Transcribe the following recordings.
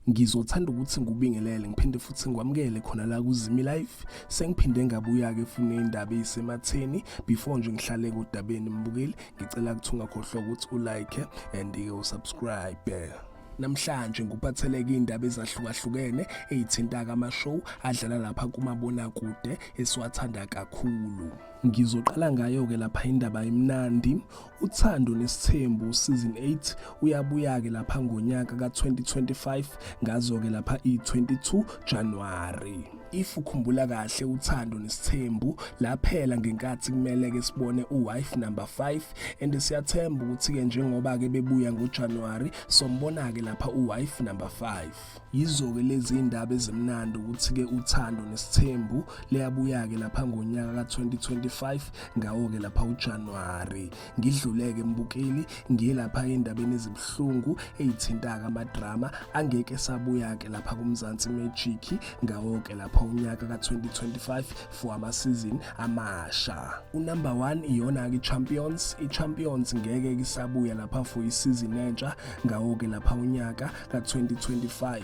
ngizothanda ukuthi ngubingelele ngiphinde futhi ngikwamukele khona la kuzimi life sengiphinde ngabuya-ke fune indaba eyisematheni before nje ngihlale kodabeni mbukeli ngicela ukuthi ungakhohlwa ukuthi ulike and-ke usubscribe namhlanje nguphatheleke indaba ezahlukahlukene eyithinta kamashow adlala lapha kumabonakude esiwathanda kakhulu Ngizoqala ngayo-ke lapha indaba imnandi. Uthando nesithembu season 8 uyabuya-ke lapha ngonyaka ka-2025 ngazo-ke lapha i-22 January. If ukhumbula kahle uthando nesithembu laphela ngenkathi kumele-ke sibone u-wife number 5 and siyathemba ukuthi-ke njengoba-ke bebuya ngoJanuary sombona-ke lapha u-wife number 5. yizo-ke lezi ndaba ezimnandi ukuthi-ke uthando nesithembu liyabuya-ke lapha ngonyaka ka-2025 ngawo-ke lapha ujanuwari ngidluleke mbukeli ngiye lapha endabeni ezibuhlungu eyithintaka amadrama angeke sabuya-ke lapha kumzansi magic ngawo-ke lapha unyaka ka-2025 for amasizini amasha unumber one iyona-ke i-champions i-champions ngeke kisabuya lapha for isizini entsha ngawo-ke lapha unyaka ka-2025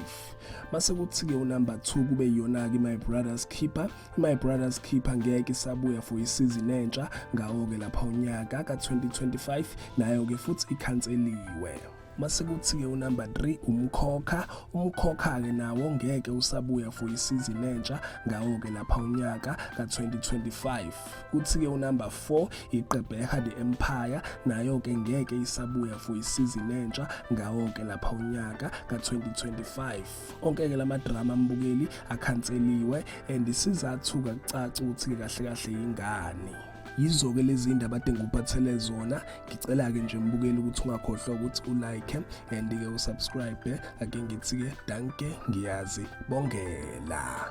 mase kuthi-ke unumber 2 kube yiyona-ke my brothers keeper my brothers keeper ngeke isabuya for isizini entsha ngawo-ke lapha unyaka ka-2025 nayo-ke futhi ikhanseliwe mase kuthi-ke unumber 3 umkhokha umkhokha-ke nawo ngeke usabuya for isizini entsha ngawo-ke lapha unyaka ka-2025 kuthi-ke unumber 4 iqebeha the empire nayo-ke ngeke isabuya for isizini entsha ngawo-ke lapha unyaka ka-2025 onke-ke la madrama ambukeli akhanseliwe and isizathu-ke kucaca ukuthi-ke kahle kahle yingani yizo-ke lezi ndaba ade ngikuphathele zona ngicela-ke nje mbukeli ukuthi ungakhohlwa ukuthi ulike and-ke usubscribe ake ngithi-ke danke ngiyazi bongela